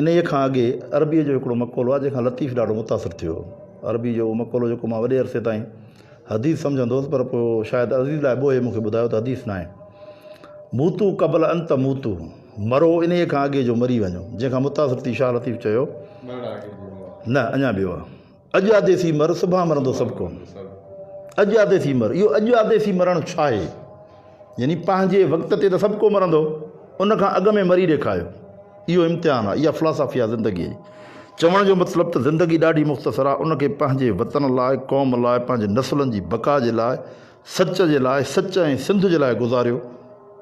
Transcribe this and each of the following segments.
انهيء کان اڳي عربيء جو هڪڙو مقولو آهي، جنهن کان لطيف ڏاڍو متاثر ٿيو هو. عربيء جو اهو مقولو جيڪو مان وڏي عرصي تائين حديث سمجهندو هوس، پر پوء شايد عزيز لاء ٻوهي مون کي ٻڌايو ته حديث ناهي. موتو قبل ان تموتو، مرو انهيء کان اڳي جو مري وڃو، جنهن کان متاثر ٿي شاهه لطيف چيو، نه، اڃا ٻيو آهي. اڄ آڌي ٿي مر، صبح مرندو سڀ ڪون. اڄ آڌي ٿي مر، اهو اڄ آڌي ٿي مرڻ ڇا آهي؟ يعني پنهنجي وقت تي ته سڀ ڪو مرندو، ان کان اڳ ۾ مري ڏيکاريو. اهو امتحان آهي، اها فلاسافي آهي زندگيء جي. چوڻ جو مطلب ته زندگي ڏاڍي مختصر آهي، ان کي پنهنجي وطن لاء، قوم لاء، پنهنجي نسلن جي بقا جي لاء، سچ جي لاء سچ ۽ سنڌ جي لاء گذاريو،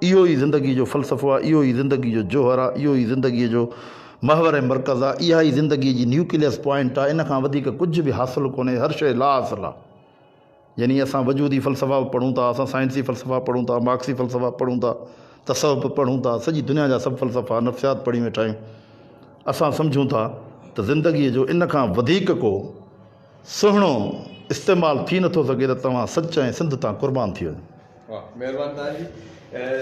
اهو ئي زندگيء جو فلسفو آهي، اهو ئي زندگيء جو جوهر آهي، اهو ئي زندگيء جو محور ۽ مرڪز آهي، اها ئي زندگيء جي نيوڪليس پوائنٽ آهي، ان کان وڌيڪ ڪجهه به حاصل ڪونهي، هر شيء لاحاصل آهي. يعني اسان وجودي فلسفا به پڙهون ٿا، اسان سائنسي فلسفا پڙهون ٿا، مارڪسي فلسفا پڙهون ٿا، تصوف به پڙهون ٿا، سڄي دنيا جا سڀ فلسفا، نفسيات پڙهي ويٺا آهيون. اسان سمجهون ٿا ته زندگيء جو ان کان وڌيڪ ڪو. سهڻو استعمال ٿي نٿو سگهي ته توهان سچ ۽ سنڌ تان قربان ٿي وڃو.